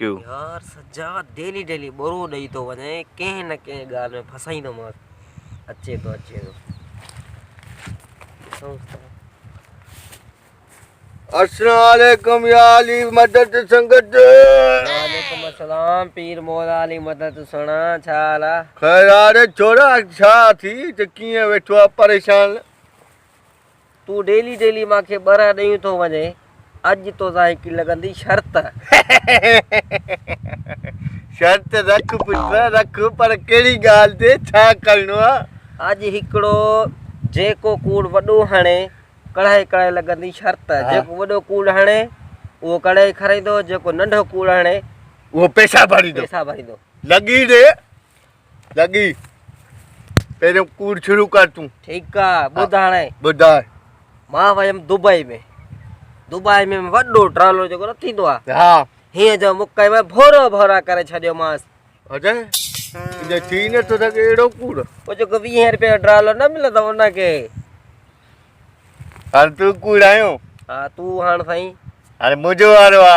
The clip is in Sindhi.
يار سجاد ڊيلي ڊيلي ٻورو ڏئي ٿو وڃين ڪنهن نه ڪنهن ڳالهه ۾ ڦاسائيندومانس اچي ٿو اچي ٿو ڏسون ٿا السلام عليڪم يا علي مدد سنگت وعليڪم السلام پير مولا علي مدد سنا ڇا حال آ خير آ ري ڇورا ڇا ٿي ته ڪيئن ويٺو آ پريشان تون ڊيلي ڊيلي مان کي ٻرهه ڏيون ٿو وڃين اڄ توسان هڪ لڳندي شرط. شرط رک پٽ رک پر ڪهڙي ڳالهه تي ڇا ڪرڻو آ. اڄ هڪڙو جيڪو ڪوڙ وڏو هڻي ڪڙهائي ڪڙهائي لڳندي شرط جيڪو وڏو ڪوڙ هڻي اهو ڪڙهائي کارائيندو جيڪو ننڍو ڪوڙ هڻي اهو پيسا ڀريندو پيسا ڀريندو. لڳي ڏي لڳي پهريون ڪوڙ شروع ڪر تون ٺيڪ آ ٻڌ هاڻي ٻڌ مان ويم دبئي ۾ دبئي ۾ وڏو ٽرالو جيڪو نه ٿيندو آ ها هيء جو مڪ ۾ ڀورا ڀورا ڪري ڇڏيو ماس اجي انجي ٿي نه تو ٿڪ اهڙو ڪوڙ او جيڪو 20 رپيه جو ٽرالو نه ملندو ان کي هر تو ڪوڙ آيو ها تو هاڻ سائين هاڻي منهنجو وارو آ